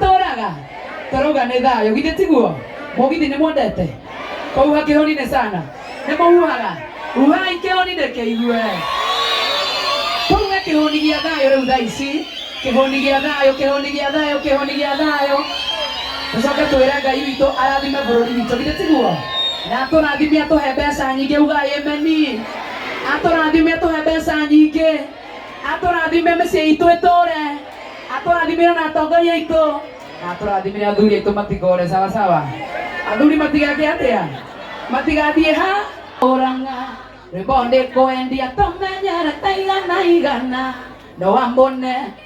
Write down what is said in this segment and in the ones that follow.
tũraga tũrauga nĩ thayũ githĩ tiguo mũgithi nĩ mwendete kũhuha kĩhoni nĩ sana nĩ mũhuhaga huhai kĩhoni nĩ kĩigue kũruga kĩhoni gĩa thayũ rĩu thaa ici kĩhoni gĩa thayũ kĩhoni gĩa thayũ kĩhoni gĩa thayũ tũcoke twĩre ngai witũ arathime bũrũri witũ githĩ tiguo na tũrathime atũhe mbeca nyingĩ ugai emeni atũrathime tũhe mbeca nyingĩ atũrathime mĩciĩ itũ ĩtũre atũrathimire na atongoria aitũ na atũrathimire athuri aitũ matigore sawa sawa athuri matigake atĩa matigathiĩ ha ũranga rwĩmbo ndĩkwendia tũmenyere taigana igana no wambone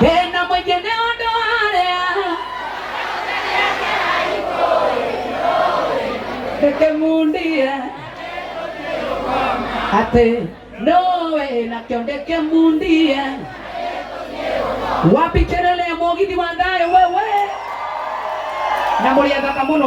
Tena mwingine ũndũ warĩa ndĩkĩmundia atĩ nũwe nakĩo ndĩkĩmundia wapi kelele ya mũgithi wa thayũ wewe na mũrĩ athaka mũno